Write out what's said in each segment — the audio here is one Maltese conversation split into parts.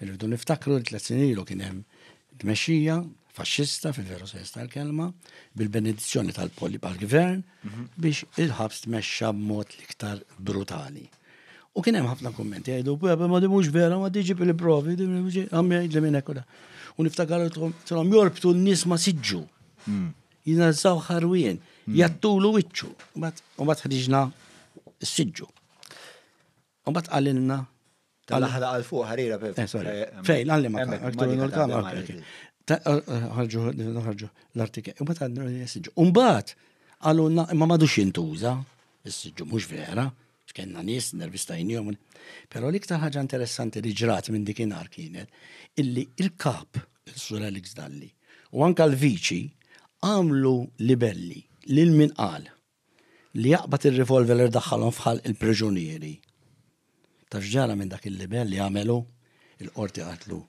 Irridu niftakru li tliet snin ilu kien hemm tmexxija faxxista fil-veru sens tal-kelma bil-benedizzjoni tal-poli għal-gvern mhm. biex il-ħabs tmexxa b'mod l-iktar brutali. U kien hemm ħafna kummenti jgħidu, ma di mhux vera, ma diġi bil-provi, għamjajt li minn ekkola. U niftakar trom jorbtu n-nies ma siġġu. Mm. Jinażaw ħarwien, mm. jattulu wiċċu, u bat ħriġna s-siġġu. U bat għalilna. Tal-ħra għal fuq ħarira per. Eh, sorry. Eh, Fejn, għalli ma ħarġu ħarġu l-artikel. U bat għadna s-sġu. U bat għalulna ma madux jintuża, s-sġu mux vera, xkenna nis, nervistajnijom. Pero l-iktar ħaġa interessanti li ġrat minn dikinar kienet illi il-kap, il-sur Alex Dalli, u anka l-viċi għamlu libelli lil min qal li jaqbad ir-revolver li daħħalhom f'ħalq il-priġunieri. Taf x'ġara minn dak il-libell li għamel hu? Il-qorti qaltlu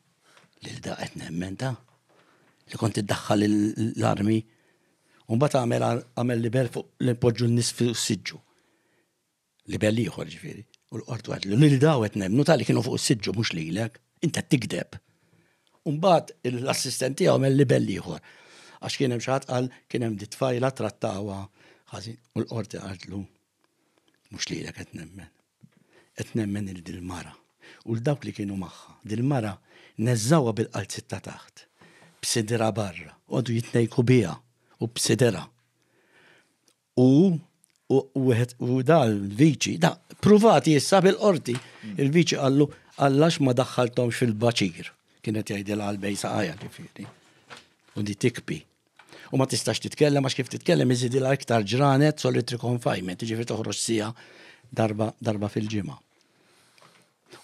lil da qed nemmen ta' li kont iddaħħal l-armi. U mbagħad għamel għamel libell fuq li npoġġu n-nies fis-siġġu. Libell ieħor jiġifieri. U l-qorti qalet li lil daw qed nemmnu tali kienu fuq is-siġġu mhux lilek. Int qed tigdeb. U mbagħad l-assistent tiegħu għamel libell ieħor. Għax kien hemm xi ħadd qal kien hemm di tfajla trattawha ħażin u l-qorti qaltlu mhux lilek qed nemmen. Qed nemmen il dil-mara u l dawk li kienu magħha. Dil-mara neżżawha bil-qalziet ta' taħt b'sidra barra, għodu jitnejku biha u b'sidera. U, u, u wieħed u dan il-viċi, da, pruvati issa bil-qorti. Il-viċi qallu, għallax ma daħħalthomx fil-baċir. Kienet jgħidil għal-bej saqajja ġifieri. U di tikpi. U ma tistax titkellem għax kif titkellem iżidilha iktar ġranet solitary confinement, ġifieri toħroġ sija darba, darba fil-ġimgħa.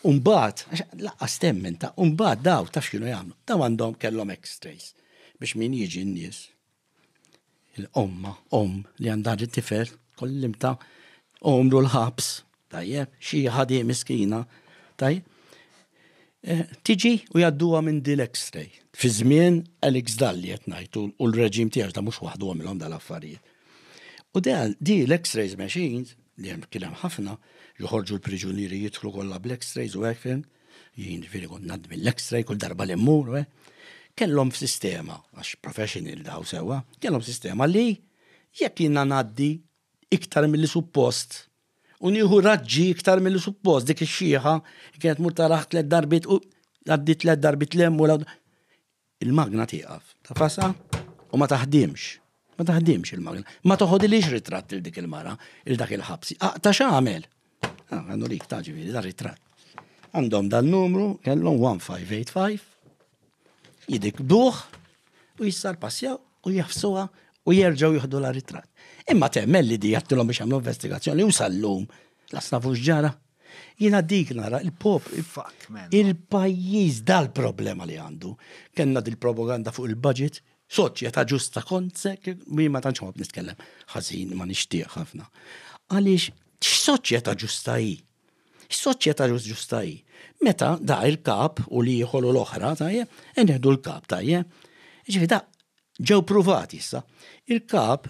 Umbat, laqqas temmen ta' umbat daw ta' x'kienu jagħmlu. Daw għandhom kellhom x-rays biex min jiġi n-nies Il-omma, om li għandha tifel, kollimta omru l-ħabs, tajjeb, xi ħadi miskina, tajjeb. Eh, tiġi u jadduha minn dil ekstrej Fi żmien Alex Dalli qed ngħid u l-reġim tiegħu ta' mhux waħdu għamilhom dal-affarijiet. U dan di l-X-rays machines, li hemm kien hemm ħafna, joħorġu l-priġunieri jidħlu kollha bl-X-rays u hekk jien ġviri kont nad mill-x-ray kull darba li mmur, eh, kellhom sistema, għax professional daw sewa, kellhom sistema li jekk jina naddi iktar mill suppost u nieħu raġġi iktar mill suppost dik ix-xieħa kienet mur taraħ tliet darbit u għaddi tliet darbit lemmu Il-magna tieqaf. Tafasha u ma taħdimx. Ma taħdimx il-magna. Ma toħodilix ritratt il dik il-mara, il dak il-ħabsi. Aqta x'għamel? Ah, għandu lik ta' ġifieri da ritratt. Għandhom dal-numru, kellhom 1585, jidik buħ u jissar passjaw u jafsuha u jerġgħu jieħdu la ritratt. Imma temmel li di jattilhom biex għamlu investigazzjoni u sallum. Lasna fux ġara. Jiena dik nara il-pop il-pajjiż dal-problema li għandu. Kenna dil-propaganda fuq il-budget, soċjetà ġusta konsek, mi ma tantx ma nitkellem ħażin ma nixtieq ħafna. Għaliex x'soċjetà ġusta hi? X'soċjetà ġusta hi? Meta da il-kap u li jħolu l-oħra tajjeb, inħedu l-kap tajjeb. Ġifi da ġew pruvati issa. Il-kap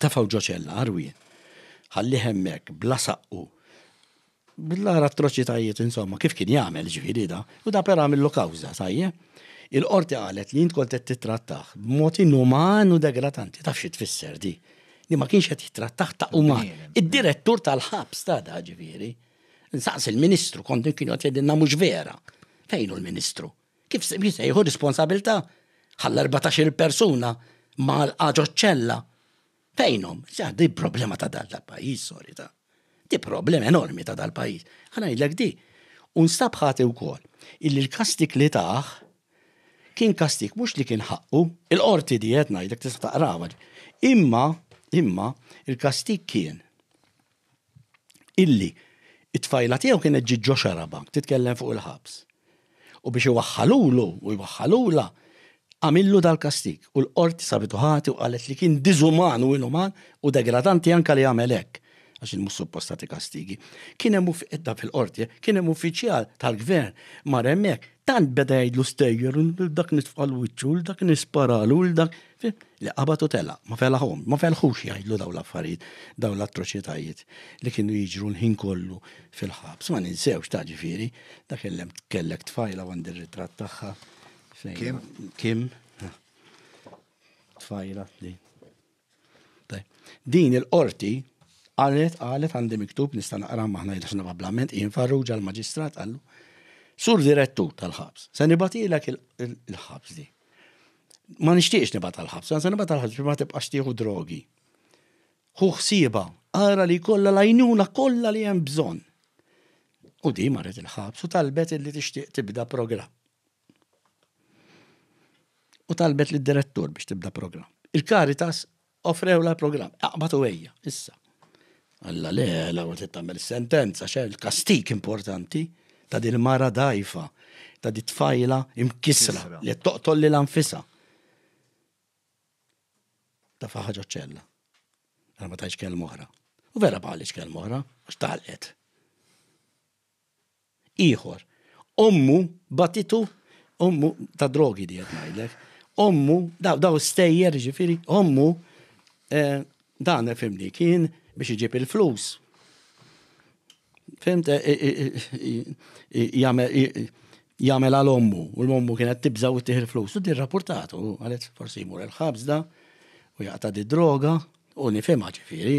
Tefgħu ġo ċella, arwi. Ħallih hemmhekk, bla saqqu. Bl-ara atroċitajiet, insomma, kif kien jagħmel ġifieri da, u da per għamillu kawża, tajjeb. Il-qorti qalet li int kont qed tittrattah b'mod inuman u degratanti. Taf xi tfisser di? Li ma kienx qed jittrattah ta' uman. Id-direttur tal-ħabs ta' da ġifieri. Nsaqs il-Ministru kont kien qed jgħidilna mhux vera. Fejn hu l-Ministru? Kif se jsejħu responsabilità? Ħalla 14 persuna ma l-qaġo ċella. Fejnhom, sa di problema ta' dal pajjiż sorry ta' di problema enormi ta' dal pajjiż Ħana jillek di. U nstab ħati wkoll illi l-kastik li taħ kien kastik mhux li kien ħaqqu, il-qorti di qed ngħidlek tista' taqrawa. Imma, imma, il-kastik kien illi it-tfajla tiegħu kienet ġiet ġo xarabank titkellem fuq il-ħabs. U biex iwaħħalulu u jwaħħalula għamillu dal-kastik u l-qorti sabitu ħati u qalet li kien diżuman u inuman u degradanti anka li għamel hekk għax il-mhux suppostati kastigi. Kien hemm fil-qorti, kien hemm uffiċjal tal-gvern mar hemmhekk Tant beda jgħidlu stejjer, l dak nitfqal wiċċu, l dak nisparalu, l dak li qabad u tela, ma felaħom, ma felħux jgħidlu daw l-affarijiet, daw l-atroċitajiet li kienu jiġru l-ħin kollu fil-ħabs. Ma ninsewx ta' ġifieri, dak il-lem kellek tfajla għandi r-ritratt tagħha. Kim? Kim? Tfajla li. Din il-qorti qalet qalet għandi miktub nista' naqra ma ħna jidhirx nabablament hi nfarruġa l-maġistrat qallu Sur direttur tal-ħabs, se nibatilek il-ħabs di. Ma nixtieqx nibgħat tal-ħabs, se nibgħat tal-ħabs biex ma tibqax tieħu drogi. Hu ħsieba, ara li kollha lajnuna kollha li hemm bżonn. U di marret il-ħabs u talbet li tixtieq tibda programm. u talbet lid-direttur biex tibda programm. Il-Caritas offrewla programm, aqbad u ejja, issa. Alla le, la għot tagħmel sentenza, xe l-kastik importanti ta' din mara dajfa, ta' di tfajla imkisra li toqtol li l-anfisa. Ta' faħħaġa ċella. Għal ma tajx kelm oħra. U vera bħalix kelm oħra, għax talqet. ieħor. Ommu batitu, ommu ta' drogi di qed ngħidlek. Ommu, daw daw stejjer ġifieri, ommu eh, dan fimni kien biex iġib il-flus. Fimt eh, eh, jagħmel għal ommu u l-ommu kienet tibża' u tieħ il-flus. U dir rapportat u għalet forsi jmur il-ħabs da u jaqta' di droga u nifhimha ġifieri.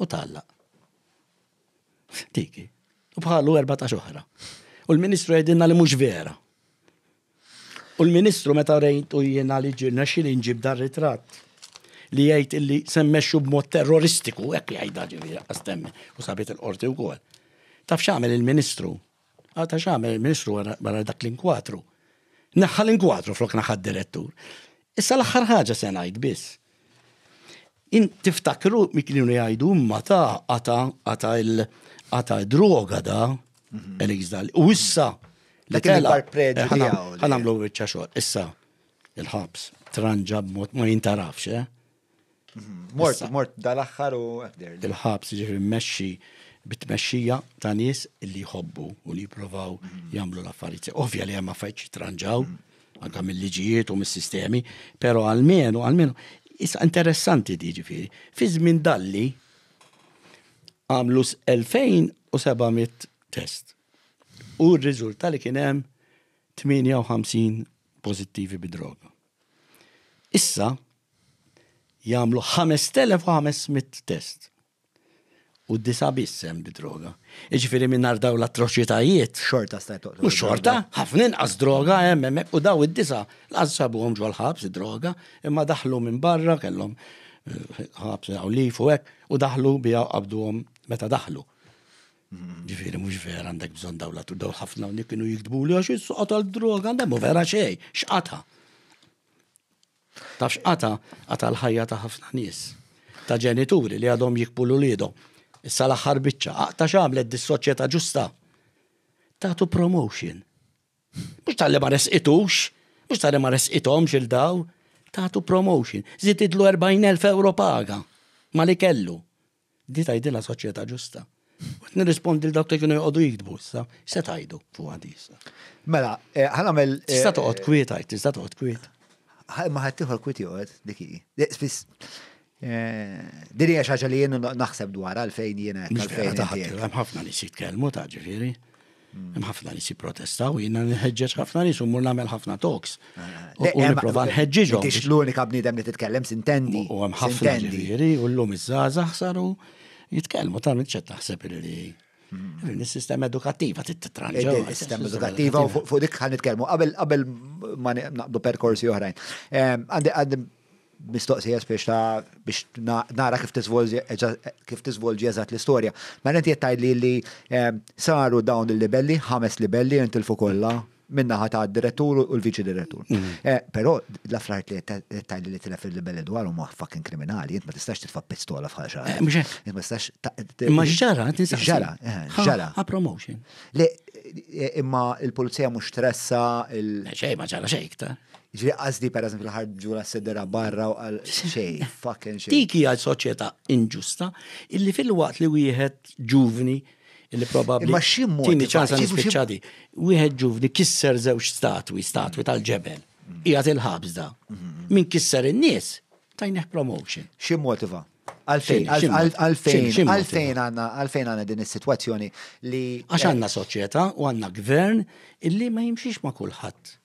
U tgħallaq. Tiki. U bħalu 14 oħra. U l-Ministru jgħidilna li mhux vera. U l-Ministru meta rejt u jiena li ġirna xil inġib dar ritratt li jgħid illi semmexxu b'mod terroristiku, hekk jgħidha ġifieri għastemmi u sabit il-qorti wkoll. Taf x'għamel il-Ministru? Għata xamel il-ministru wara dak l-inkwatru. Naħħa l-inkwatru flok naħħa direttur. Issa l-axħar ħaġa se ngħid biss. In tiftakru mi kienu jgħidu imma ta' għata għata il- għata droga da, mhm. Elix dal. U issa, li kella, ħanamlu bieċa xor, issa, il-ħabs, tranġa b'mod ma jintarafx, eh? Mort, mort dal-axħar u għabder. Il-ħabs ġifri mmexxi bit-tmexxija ta' nies li jħobbu u li jipprovaw mhm. jagħmlu l-affarijiet. Ovvja li hemm affarijiet jitranġaw mhm. anke mill-liġijiet u mis-sistemi, però għalmenu għalmenu issa interessanti di ġifieri. Fi żmien dalli għamlu 2700 test. U r-riżulta li kien hemm 58 pożittivi bidroga. Issa jagħmlu 5,500 test. U disa biss hemm bid-droga. Jiġifieri mingħajr daw l-atroċitajiet. Xorta sta U xorta, ħafna inqas droga hemm hemmhekk u daw id-disa laqas sabuhom ġol ħabs id-droga, imma daħlu minn barra kellhom eh, ħabs hawn lif u hekk u daħlu biha qabduhom meta daħlu. Ġifieri mhux vera għandek bżonn daw l daw ħafna hawnhekk kienu jiktbu li għax is-soqgħod droga għandhom vera xejn, x'qata. Tafx qata qata l-ħajja ta' ħafna nies, ta' ġenituri li għadhom jikbu l-uliedhom. Issa l-aħħar biċċa, aqta x'għamlet dis-soċjetà ġusta. Tatu promotion. Mhux tal-li ma resqitux, mhux tal-li ma resqithomx il daw, tatu promotion. Zitidlu 40,000 euro paga ma li kellu. Di tgħidilha soċjetà ġusta. Qed nirrispondi l dawk li kienu joqogħdu jiktbu issa, se tgħidu fuq għadi issa. Mela, eh, ħanamel. Eh, tista' toqgħod kwiet għid, tista' toqgħod kwiet. Ma ħadd ieħor kwiet joqgħod dik hi. Eh, spiss Diri hija xaġa li jien naħseb dwar għalfejn jiena għalfejn. Hemm ħafna li jitkellmu ta' ġifieri. Hemm ħafna nies jipprotestaw, jiena nħeġġeġ ħafna nies u mur nagħmel ħafna talks. Eh, u nipprova nħeġġiġhom. Tix l-unika bniedem li titkellem sintendi. U hemm ħafna ġifieri u llum iż-żgħażagħ saru jitkellmu ta' minn ċed taħseb li hmm. Is-sistema edukattiva titranġa. Is-sistema edukattiva u fuq dik ħan nitkellmu qabel qabel ma naqbdu perkorsi oħrajn. Għandi mistoqsija spiex ta' biex nara kif tiżvolġi eżatt l-istorja. Mela inti qed tgħidli li ehm, saru dawn il-livelli, ħames livelli intilfu kollha minnaħa ta' direttur u l-viċi direttur. Mm. Eh, però l-affarijiet li qed tgħidli li tilef il-livelli dwar huma fucking kriminali, int ma tistax titfa' pistola f'ħal xi eh, ħaġa. Int ma tistax. Ma ġara, ġara, eh, ġara. A promotion. Le, imma il-pulizija mhux tressa il. Xejn ma ġara xejn iktar. Ġri qasdi per eżempju ħarġu la sedera barra u għal xej, fucking xej. Dik hija soċjetà inġusta illi fil-waqt li wieħed ġuvni illi probabbli. Imma xi mod. Tini ċansa nispiċċadi. Wieħed ġuvni kisser żewġ statwi, statwi tal-ġebel. Mm. Hija il-ħabs da. Mm-hmm. Min kisser in-nies tajnih promotion. Xi motiva? Għalfejn, għalfejn, għalfejn għanna, għalfejn għanna din is-situazzjoni li. Għax għanna soċjetà u għanna gvern illi ma jimxiex ma' kulħadd.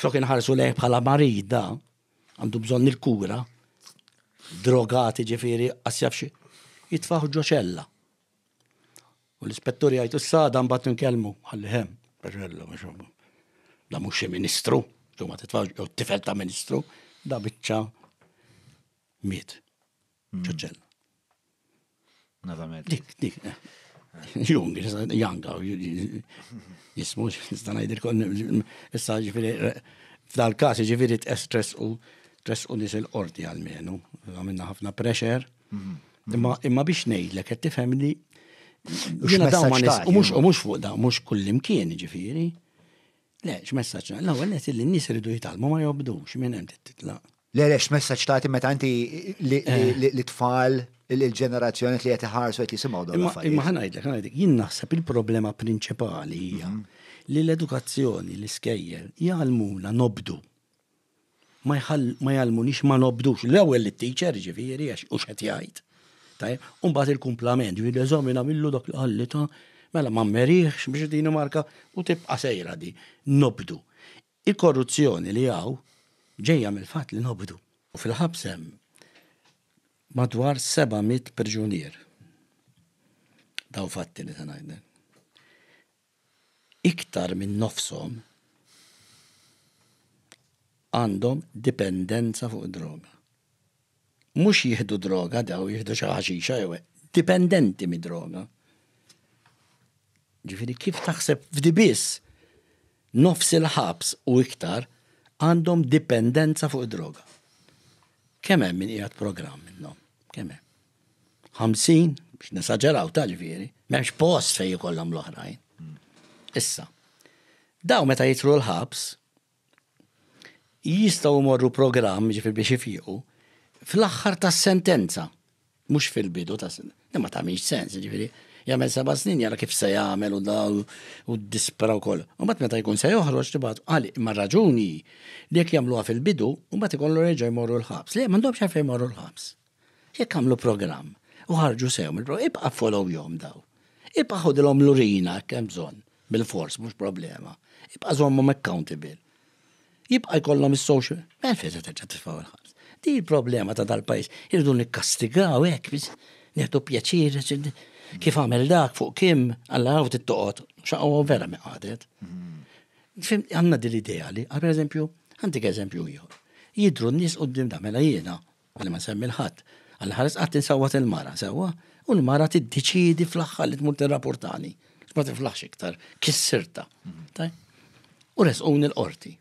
Flok inħarsu lejh bħala marid da, għandu bżonn il-kura, drogati ġifieri xi jitfaħ ġoċella. U l-ispettur jgħid issa dan bat nkellmu, ħalli hemm, ġoċella mhux da mhux xi ministru, tu ma titfax jew tifel ta' ministru, da biċċa miet. ċoċċella. Nada med. Dik, dik. Jung, janga, jismu, nista najdir kon, issa ġifiri, f'dal kas ġifiri t-estress u stress u nis il-qorti għal-menu, għamilna ħafna pressure, mhm. imma imma biex nejdlek, għed tifhem li jina daw ma nis, u mux fuq da, mux kullimkien ġifiri, Le, x'messaġġ nagħti? L-ewwel qed li n-nies iridu jitgħallmu ma jobdux minn hemm titlaq. Le, le, x'messaġġ tagħti meta inti eh. li tfal il-ġenerazzjoni li qed iħarsu qed jisimgħu dawn l-affarijiet. Imma ħanajdlek, ħanajdlek, jien naħseb il-problema prinċipali hija mhm. li l-edukazzjoni l-iskejjer jgħalmuna nobdu. ma jgħallmunix ma nobdux. L-ewwel lit-teacher, jiġifieri, għax u x'qed jgħid. Tajjeb, u mbagħad il-kumplament, jiġifieri eżamina millu dak li qalli ta' mela ma mmeriħx biex din marka u tibqa' sejra di. Nobdu. Il-korruzzjoni li hawn ġejja mill-fatt li nobdu. U fil-ħabs hemm madwar 700 priġunier. Dawn fatti li se ngħidlek. iktar minn nofshom għandhom dipendenza fuq id-droga. Mhux jieħdu droga dawn, jieħdu xi ħaxixa jew hekk, dipendenti mid-droga. Ġifieri kif taħseb f'di biss nofs il-ħabs u iktar għandhom dipendenza fuq id-droga. Kemm hemm min qiegħed programm minnhom? Kemm hemm? 50, biex nesaġeraw tal-viri, m'hemmx post fejn jkollhom l-oħrajn. Issa, daw meta jitru l-ħabs, jistaw morru program ġifi biex ifiqu fl-axħar ta' sentenza, mux fil-bidu ta' sentenza, imma ta' miex sens, ġifiri, jgħamil seba snin jara kif se jgħamil u daw u dispera u koll. U bat meta jkun se joħroġ tibat, għali, imma raġuni li jek jgħamluha fil-bidu, u bat ikollu reġa jmorru l-ħabs. Li, mandobx għafej jmorru l-ħabs. Jekk għamlu programm u ħarġu sew mill-programm, ibqa' followjhom daw. Ibqa' ħodilhom lurina hekk hemm bżonn, bil-fors mhux problema. Ibqa' żommhom accountable. Jibqa' jkollhom is-social. Mela fejn se terġa' titfgħu l-ħabs. Di l-problema ta' dal-pajjiż. Irdu nikkastigaw hekk biex nieħdu pjaċir kif għamel dak fuq kim alla għaw tittoqgħod xaqgħu vera mi qadet. Fim għandna din l-idea li, per eżempju, għandik eżempju ieħor. Jidru n-nies qudiem da mela jiena Ħalli ma nsemmi l-ħadd. Għal ħares qatt insawwat il-mara, sewwa? U l-mara tiddeċiedi fl-aħħar li tmur tirrapportani. Ma tiflaħx iktar, kissirta. Mhm. U resqun il-qorti.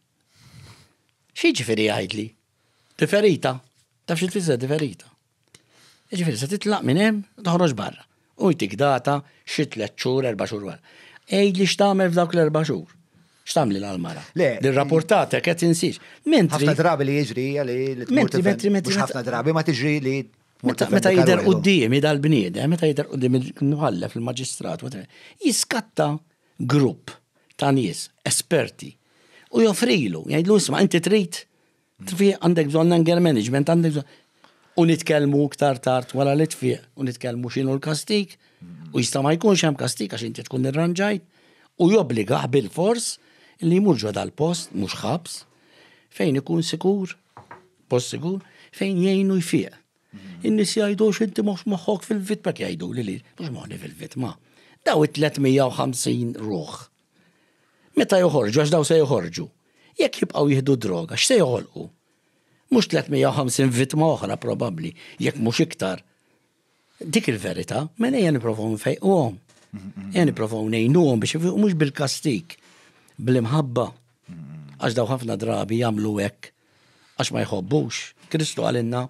Xi ġifieri għajdli? Diferita? Taf xi tfisser diferita? Ġifieri se titlaq minn hemm toħroġ barra. Hu jtik data xi tlett xhur, erba' xhur wara. Għidli x'tagħmel f'dawk l-erba' xhur. X'tagħmli l-mara? Le. Li rrapportatek qed insiex. Mentri. Ħafna drabi li jiġri hija li li tmur tifhem. Mentri, mentri, mentri. Ħafna drabi ma tiġri li Meta jidher quddiemi dal-bniedem, meta jidher qudiem il-mħallef, il-maġistrat, jiskatta grupp ta' nies esperti u joffrilu, jgħidlu isma' inti trid Tfiq għandek bżonn anger management, għandek bżonn. U nitkellmu iktar tard wara li tfiq u nitkellmu x'inhu l-kastik u jista' ma jkunx hemm kastik għax inti tkun irranġajt u jobbliga bil-fors li jmur ġo dal-post mhux ħabs fejn ikun sikur, post sikur, fejn jgħinu jfiq. In-nies jgħidu x'inti mhux moħħok fil-vitma jgħidu li li mhux moħni fil-vitma. Daw it-350 ruħ Meta joħorġu, għax dawn se joħorġu, jekk jibqgħu jieħdu d-droga, x'se joħolqu? Mhux 350 vittma oħra probabbli, jekk mhux iktar. Dik il-verità, mela ejja nipprovaw nfejquhom. Ejja nipprovaw ngħinuhom biex ifiqu mhux bil-kastik, bl-imħabba. Għax daw ħafna drabi jagħmlu hekk għax ma jħobbux. Kristu għalinna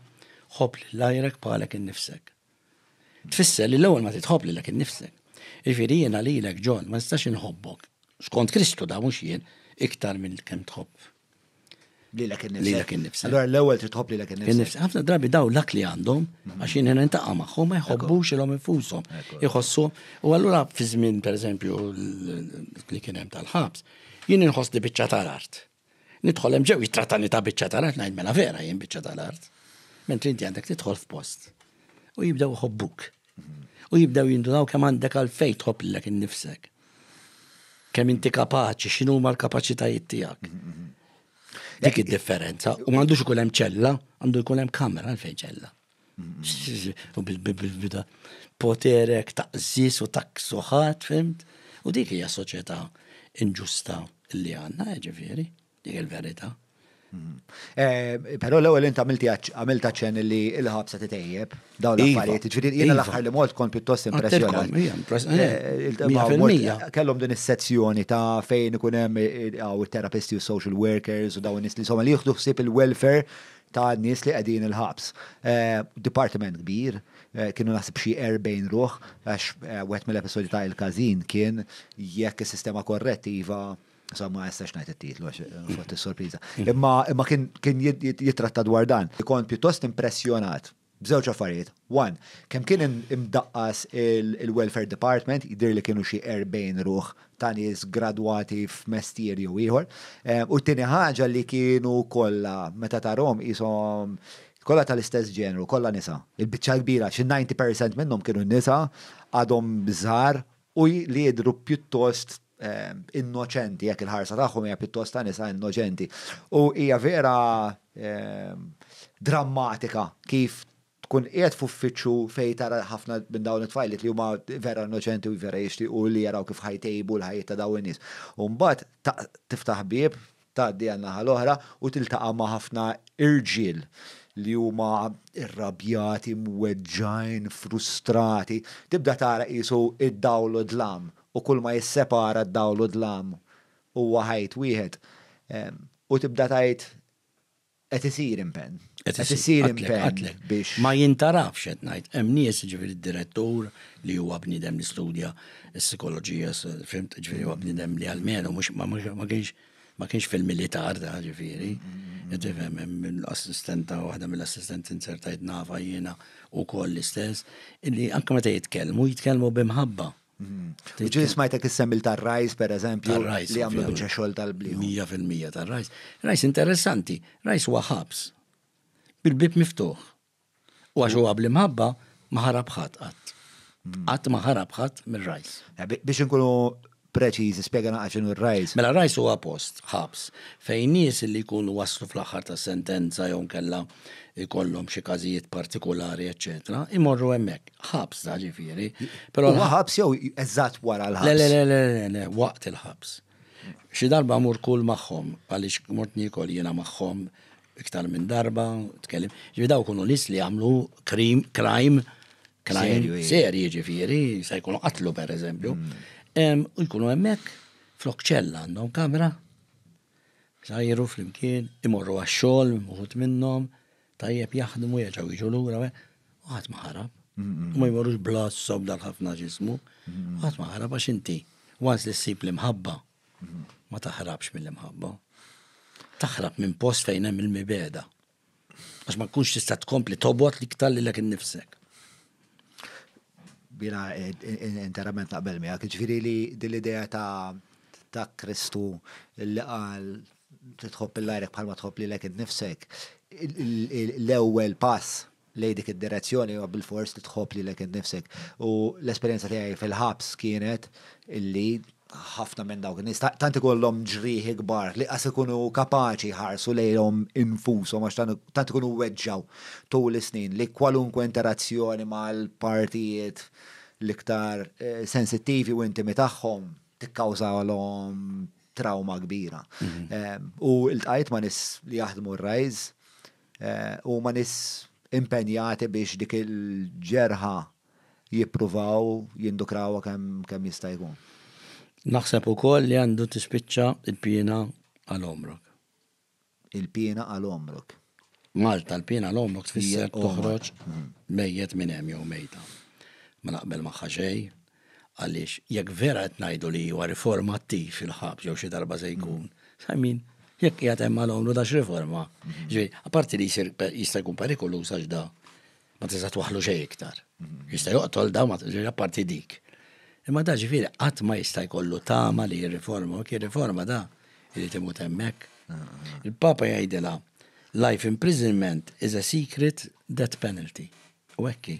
ħobb lil għajrek bħalek innifsek. tfisser li l-ewwel ma titħobb lilek innifsek. Jiġifieri jiena lilek John ma nistax inħobbok skont Kristu da mhux jien iktar minn kemm tħobb lilek innifsek. Allora l-ewwel trid tħobb lilek innifsek. Ħafna drabi daw l-ak li għandhom mhm. għax jien nintaqa' magħhom ma jħobbux ilhom infushom. Iħossu u allura fi żmien pereżempju li kien hemm tal-ħabs, jien inħoss li biċċa tal-art. Nidħol hemm ġew jittratani ta' biċċa tal-art ngħid mela vera jien biċċa tal-art. Mentri inti għandek tidħol f'post. U jibdew iħobbuk. U jibdew jindunaw kemm għandek għalfejn tħobb lilek innifsek. Kemm inti kapaċi, x'inhu ma l-kapaċitajiet tiegħek. Dik id-differenza. U m'għandux ikun hemm ċella, għandu jkun hemm kamra għalfejn ċella. U bil-bida poterek ta' zis u ta' ksuħat, fimt? U dik hija soċjetà inġusta li għanna, eh, ġifieri, dik il-verità. Mm. Eh, Pero l-ewwel int għamilti għamilta ċen li l-ħabsa titejjeb dawn iva. l-affarijiet. Ġifieri jiena iva. l-aħħar li mort kont pjuttost impressjonat. Eh, eh, kellhom din is-sezzjoni ta' fejn ikun hemm it-terapisti u social workers u dawn nies li somma li jieħdu ħsieb il-welfare ta' nies li qegħdin il-ħabs. Dipartiment kbir, kienu naħseb xi 40 ruħ, għax wieħed mill-episodji ta' il-każin kien jekk is-sistema korrettiva Sa ma jistax ngħid it-titlu għax fot is-sorpriża. Imma kien jitratta dwar dan. Kont pjuttost impressjonat b'żewġ affarijiet. One, kemm kien imdaqqas il-Welfare Department, jidhirli kienu xi 40 ruħ ta' nies gradwati f'mestier jew ieħor. U t-tieni ħaġa li kienu kollha, meta tarahom qishom kollha tal-istess ġenru, kollha nisa. Il-biċċa l-kbira, xi 90 percent minnhom kienu nisa, għadhom żgħar u li jidhru pjuttost innoċenti, jekk il-ħarsa tagħhom hija pjuttost ta' nisa innoċenti. U hija vera drammatika kif tkun qiegħed f'uffiċċju fejn tara ħafna minn dawn it-tfajliet li huma vera innoċenti u vera jixtiequ li jaraw kif ħajtejbu l-ħajjiet ta' dawn in-nies. U mbagħad tiftaħ bieb Tgħaddi għan-naħa l-oħra u tiltaqa' ma' ħafna irġiel li huma rrabjati, mweġġgħin, frustrati. Tibda tara qisu d-dawl u d-dlam u kull ma jissepara d-dawl u d-dlam huwa ħajt wieħed. U tibda tgħid, Qed isir impenn. Qed isir impenn biex. Ma jintarafx qed ngħid, hemm nies ġifieri d-direttur li huwa bniedem li studja s-sikoloġija, fimt, ġifieri huwa bniedem li għalmenu mhux ma kienx ma kienx fil-militar da ġifieri. Qed ifhem hemm assistenta waħda mill-assistenti insertajt nafa jiena wkoll l-istess, illi anke meta jitkellmu, jitkellmu b'imħabba. Mm-hmm. Ġil smajtek issemmi tar-rajs, per eżempju, li għamlu bieċa xol tal-bli. 100% tar-rajs. Rajs interessanti, rajs huwa ħabs. Bil-bib miftuħ. U għax huwa bli mħabba, maħarab ħadd qatt. Mm. Qatt maħarab ħadd mir-rajs. Eh, biex inkunu preċiż, spiega naqaxin r-rajs. Mela rajs huwa post, ħabs, fejn nies li jkunu waslu fl-aħħar ta' sentenza jew kella ikollhom xi każijiet partikolari, eċċetera, imorru hemmhekk. Ħabs da ġifieri. Però Huwa ħabs jew eżatt wara l-ħabs? Le, le, le, le, le, waqt il-ħabs. Xi darba mur kull magħhom, għaliex mort nikol jiena magħhom iktar minn darba, tkellim. Ġifieri daw kunu nies li għamlu krim, crime, crime serji ġifieri, se jkunu qatlu pereżempju. U jkunu hemmhekk flok ċella għandhom kamra Jsajru flimkien, imorru għax-xogħol, uħud minnhom, tajjeb jaħdmu, jerġgħu jiġu lura, u ħadd ma ħarab. U ma jmorrux bl-għassa u b'dan ħafna ġismu. U ħadd ma ħarab għax inti, once li ssib l-imħabba, ma taħrabx mill-imħabba. Taħrab minn post fejn hemm il-mibegħda. Għax ma tkunx tista' tkompli tobot li ktalli l innifsek. Bina eh, interament naqbel miegħek, ġifieri li dil-idea ta' ta' Kristu li qal titħobb il-lajrek bħalma tħobb li l innifsek, l-ewwel pass lejn dik id-direzzjoni huwa bilfors li tħobb lilek innifsek. U l-esperjenza tiegħi fil-ħabs kienet illi ħafna minn dawk in-nies tant ikollhom ġrieħi kbar li qas ikunu kapaċi jħarsu lejhom infushom għax tant ikunu weġġgħu tul is-snin li kwalunkwe interazzjoni mal-partijiet l-iktar eh, sensittivi u intimi tagħhom tikkawżalhom trawma kbira. Mhm. Eh, u ltqajt ma' nies li jaħdmu r-rajz Huma nies impenjati biex dik il-ġerħa jippruvaw jindukrawha kemm jista' jkun. Naħseb ukoll li għandu tispiċċa l-piena għal għomrok. Il-piena għal għomrok. Malta, l-piena għal għomrok tfisser toħroġ mejjet minn hemm jew mejta. Ma naqbel magħha xejn. Għaliex jekk vera qed ngħidu li huwa riformattiv il-ħabs jew xi darba se jkun, I mean, jekk qiegħed hemm għal għomru ta' x'riforma. Ġifieri, apparti li jsir jista' jkun perikoluż għax da ma tista' twaħlu xejn iktar. Jista' joqtol da ma ġifieri apparti dik. Imma da ġifieri qatt ma jista' jkollu tama li jirriforma, u kien riforma da irid imut hemmhekk. Il-Papa jgħidilha life imprisonment is a secret death penalty. U hekk hi.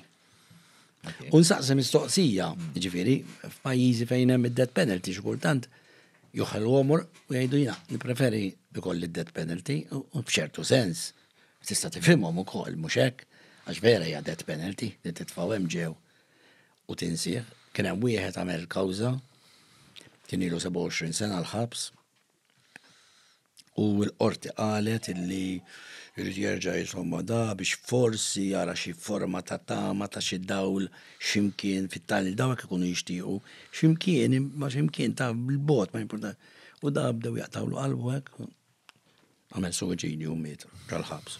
U nsaqsi mistoqsija, ġifieri, f'pajjiżi fejn hemm id-death penalty xi kultant joħel għomor u jgħidu jina, nippreferi ikolli d-death penalty u b'ċertu sens tista' tifhimhom ukoll mhux hekk għax vera hija death penalty li titfgħu hemm ġew u tinsih. Kien hemm wieħed għamel kawża kien ilu 27 sena l-ħabs U l-qorti qalet illi jrid jerġa' jisomma da biex forsi jara xi forma ta' tama ta' xi dawl ximkien fit-tali dawk ikunu jixtiequ ximkien ma ximkien ta' bil-bot ma jimporta. U da bdew jaqtawlu qalbu hekk għamel suwiċidju u miet ġal-ħabs.